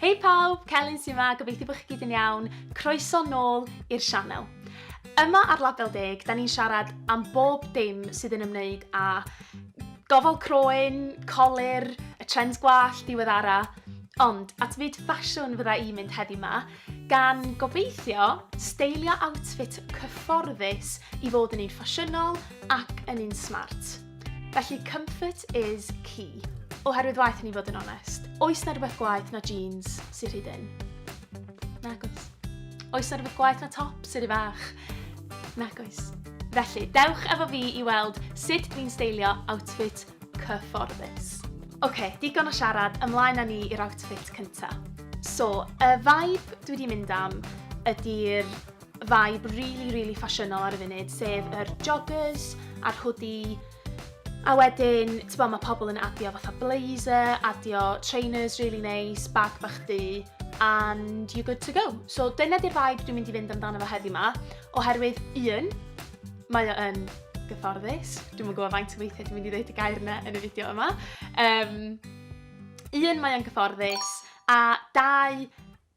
Hei pawb, Celyn sy 'ma, gobeithio bod chi gyd yn iawn, croeso nôl i'r sianel. Yma ar Label Deg, da ni'n siarad am bob dim sydd yn ymwneud â gofal croen, colur, y trends gwallt, diweddara, ond at fyd ffasiwn fydda i'n mynd heddi 'ma, gan gobeithio steilio outfit cyfforddus i fod yn un ffasiynol ac yn un smart. Felly comfort is key. Oherwydd waith ni fod yn onest. Oes na rhywbeth gwaith na jeans sy'n rhy dyn? Nagos. Oes na rhywbeth gwaith na top sy'n rhy fach? Nagos. Felly, dewch efo fi i weld sut dwi'n steilio outfit cyfforddus. Oce, okay, digon o siarad, ymlaen â ni i'r outfit cyntaf. So, y vibe dwi wedi mynd am ydy'r vibe rili rili ffasiynol ar y funud sef yr joggers a'r hoodie a wedyn t'bo' ma' pobl yn adio fatha blazer, adio trainers rili neis, bag bach du and you're good to go. So dyna 'di'r vibe dwi'n mynd i fynd amdano fo heddi 'ma oherwydd un, mae o yn gyfforddus, dwi'm yn gwybod faint o weithiau dwi'n mynd i ddeud y gair yna yn y fideo yma. Um, un, mae o'n gyfforddus a dau,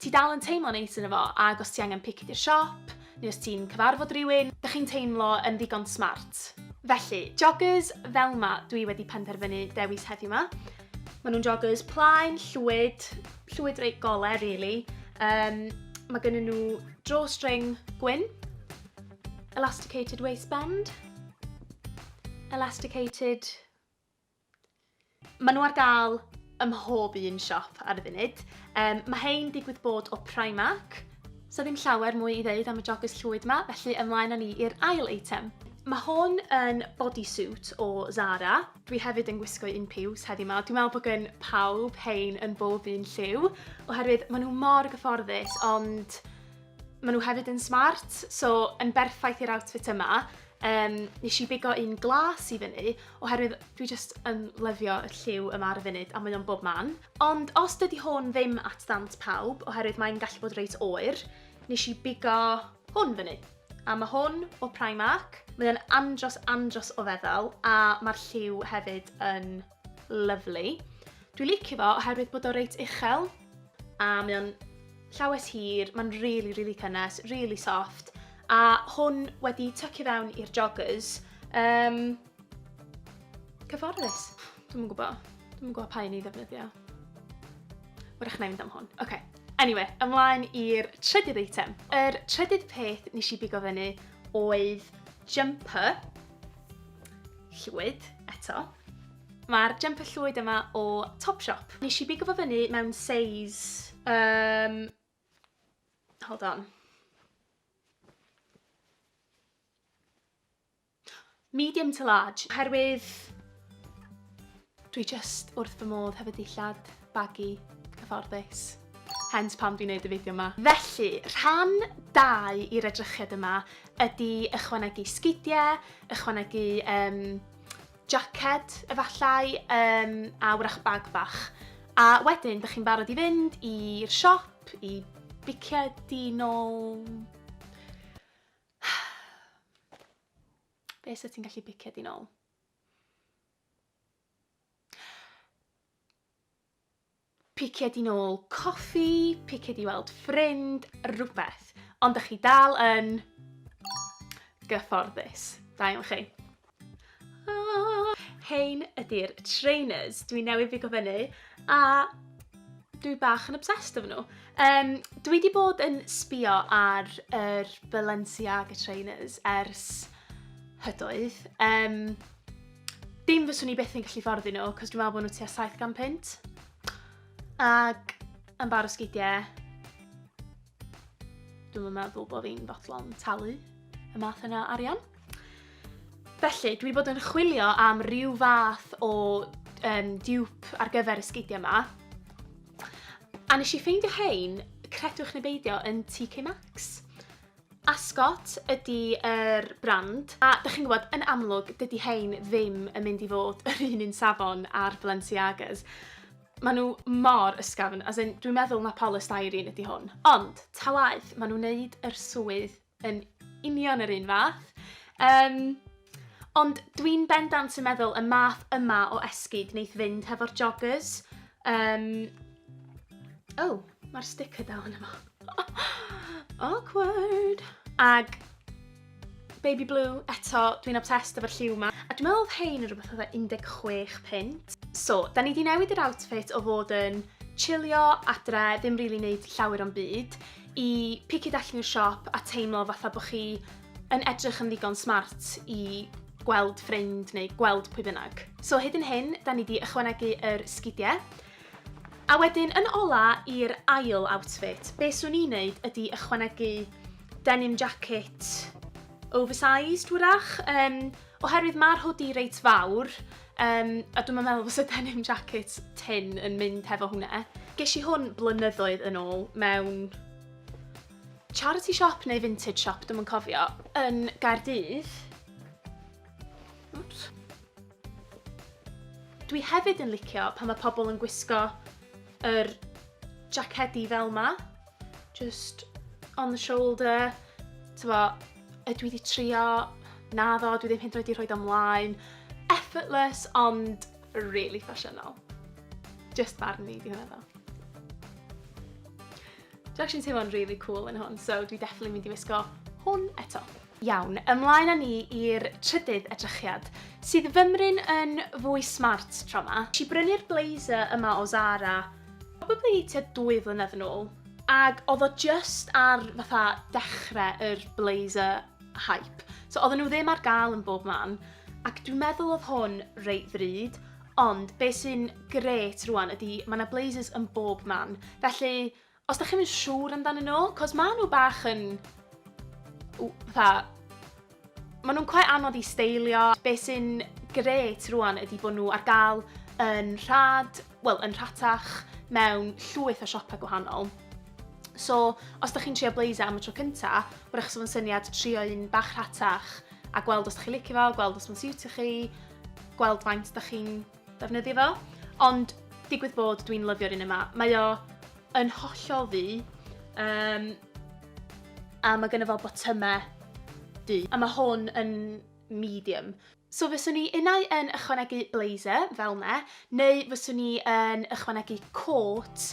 Ti dal yn teimlo neis yno fo ac os ti angen pic di'r siop, neu os ti'n cyfarfod rywun, dych chi'n teimlo yn ddigon smart. Felly, joggers fel ma dwi wedi penderfynu dewis heddiw ma. Ma nhw'n joggers plaen, llwyd, llwyd reit gole rili. Um, ma gynnyn nhw drawstring gwyn, elasticated waistband, elasticated Maen nhw ar gael ym mhob un siop ar y funud. Um, mae hein digwydd bod o Primark. So ddim llawer mwy i ddeud am y joggers llwyd ma, felly ymlaen â ni i'r ail eitem. Mae hwn yn bodysuit o Zara. Dwi hefyd yn gwisgo un piws heddi ma. Dwi'n meddwl bod gen pawb hein yn bob un lliw, oherwydd maen nhw mor gyfforddus, ond maen nhw hefyd yn smart, so yn berffaith i'r outfit yma. Yym, nes i bigo un glas i fyny, oherwydd dwi jyst yn lyfio y lliw yma ar y funud, a mae o'n bob man. Ond os dydi hwn ddim at ddant pawb, oherwydd mae'n gallu bod reit oer, nes i bigo hwn fyny. A mae hwn o Primark, mae o'n andros andros o feddal, a mae'r lliw hefyd yn Lyfli. Dwi licio fo oherwydd bod o reit uchel a mae o'n llawes hir, mae'n rili, really, rili really cynnes, rili really soft a hwn wedi tycio fewn i'r joggers. Um, cyfforddus. Dwi'n yn gwybod. Dwi'n yn gwybod pa un i ddefnyddio. Wrach na i fynd am hwn. Oce. Okay. Anyway, ymlaen i'r trydydd eitem. Yr trydydd peth nes i bigo fyny oedd jumper Llwyd, eto. Mae'r jumper llwyd yma o Topshop. Nes i bigo fo fyny mewn size... Um, hold on. Medium to large. Herwydd Dwi jyst wrth fy modd hefo dillad, bagu, cyfforddus. Hence pam dwi'n neud y fideo ma. Felly, rhan dau i'r edrychiad yma ydi ychwanegu sgidie, ychwanegu um, jacket efallai, um, a wrach bag bach. A wedyn, dych chi'n barod i fynd i'r siop, i biciau di nôl... Be sydd ti'n gallu biciau di nôl? picied i nôl coffi, picied i weld ffrind, rhywbeth. Ond ydych chi dal yn gyfforddus. Da iawn chi. Ah, hein ydy'r trainers. Dwi newydd fi gofynu a dwi bach yn obsessed efo nhw. Um, dwi wedi bod yn sbio ar yr Balenciaga trainers ers hydoedd. Um, Dim fyswn i byth yn gallu fforddi nhw, cos dwi'n meddwl bod nhw tua 700 punt. Ac yn bar o sgidiau, dwi'n meddwl bod fi'n fodlon talu y math yna arian. Felly, dwi wedi bod yn chwilio am rhyw fath o um, diwp ar gyfer y sgidiau yma. A nes i ffeindio hein, credwch neu beidio, yn TK Maxx. Ascot ydi yr brand, a 'dych chi'n gwybod, yn amlwg, dydi hein ddim yn mynd i fod yr un un safon â'r Balenciagas. Maen nhw mor ysgafn, as in, dwi'n meddwl na polystyrene ydi hwn. Ond, ta waeth, maen nhw'n neud yr swydd yn union yr un fath. Um, ond dwi'n bendant yn meddwl y math yma o esgid wneith fynd hefo'r joggers, Um, oh, mae'r sticker dal yn efo. Awkward. Ag Baby Blue, eto, dwi'n obsessed efo'r lliw yma. A dwi'n meddwl oedd hein yn rhywbeth oedd 16 pint. So, da ni di newid yr outfit o fod yn chillio adre, ddim rili really wneud llawer o'n byd, i picio allan i'r siop a teimlo fatha bod chi yn edrych yn ddigon smart i gweld ffrind neu gweld pwy bynnag. So hyd yn hyn, da ni wedi ychwanegu yr sgidiau. A wedyn, yn ola i'r ail outfit, be swn i'n neud ydy ychwanegu denim jacket oversized wrach, um, oherwydd mae'r hoodie reit fawr, um, a dwi'n meddwl fos y denim jacket tin yn mynd hefo hwnna. Ges i hwn blynyddoedd yn ôl mewn charity shop neu vintage shop, dwi'm yn cofio, yn Gaerdydd. Oops. Dwi hefyd yn licio pan mae pobl yn gwisgo yr jacedi fel ma. Just on the shoulder. Tyfo, ydw i wedi trio? Na ddo, dwi ddim hyd yn oed wedi rhoi do mlaen. Effortless, ond really ffasiynol. Just barn ni, di hwnna ddo. Dwi actually yn teimlo'n rili cŵl yn hwn, so dwi definitely mynd i wisgo hwn eto. Iawn, ymlaen â ni i'r trydydd edrychiad, sydd fymryn yn fwy smart tro ma. Nes i brynu'r blazer yma o Zara, probably tua dwy flynedd yn ôl, ag odd o jyst ar fatha dechre yr blazer hype, so odden nhw ddim ar ga'l yn bob man, ac dwi'n meddwl odd hwn reit ddrud, Ond be sy'n grêt rwan ydi ma' 'na blazers yn bob man. Felly, os dach chi'm yn siŵr amdanyn nhw, cos ma' nhw bach yn... w- fatha... ma' nhw'n quite anodd i steilio. Be sy'n grêt rwan ydi bod nhw ar gael yn rhad, wel, yn rhatach mewn llwyth o siopau gwahanol. So, os dach chi'n trio blazer am y tro cynta, wrach 'sa fo'n syniad trio un bach rhatach a gweld os dach chi'n licio fo, gweld os ma'n siwtio chi, gweld faint da chi'n defnyddio fo. Ond digwydd bod dwi'n lyfio'r un yma. Mae o yn hollol ddu. Um, a mae gynnu fo botymau du. A mae hwn yn medium. So fyswn i unau yn ychwanegu blazer fel ne, neu fyswn i yn ychwanegu coat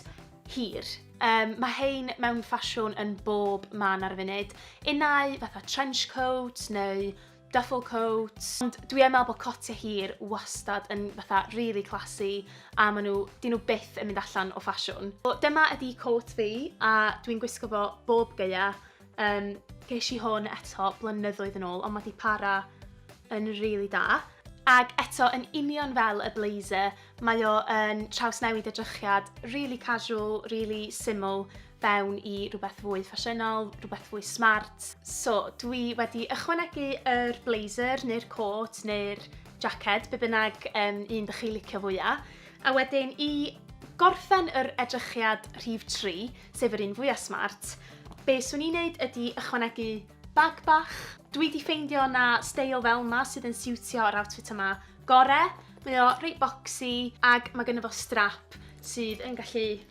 hir. Um, mae hein mewn ffasiwn yn bob man ar y funud. Unau fatha trench coat neu duffel coat, ond dwi yn meddwl bod cotiau hir wastad yn fatha really classy a maen nhw, dyn nhw byth yn mynd allan o ffasiwn. So, dyma ydi coat fi a dwi'n gwisgo fo bob gaea. Um, ges i hwn eto blynyddoedd yn ôl ond mae di para yn really da. Ac eto, yn union fel y blazer, mae o yn trawsnewid y drychiad, really casual, really syml, fewn i rhywbeth fwy ffasiynol, rhywbeth fwy smart. So, dwi wedi ychwanegu yr blazer neu'r coat neu'r jacket, be bynnag um, un dych chi licio fwyaf. A wedyn i gorffen yr edrychiad rhif 3, sef yr un fwyaf smart, be swn i'n neud ydy ychwanegu bag bach. Dwi wedi ffeindio na steil fel yma sydd yn siwtio yr outfit yma gore. Mae o reit boxy ac mae gynnu fo strap sydd yn gallu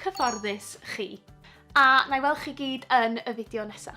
cyfforddus chi. A na i weld chi gyd yn y fideo nesa.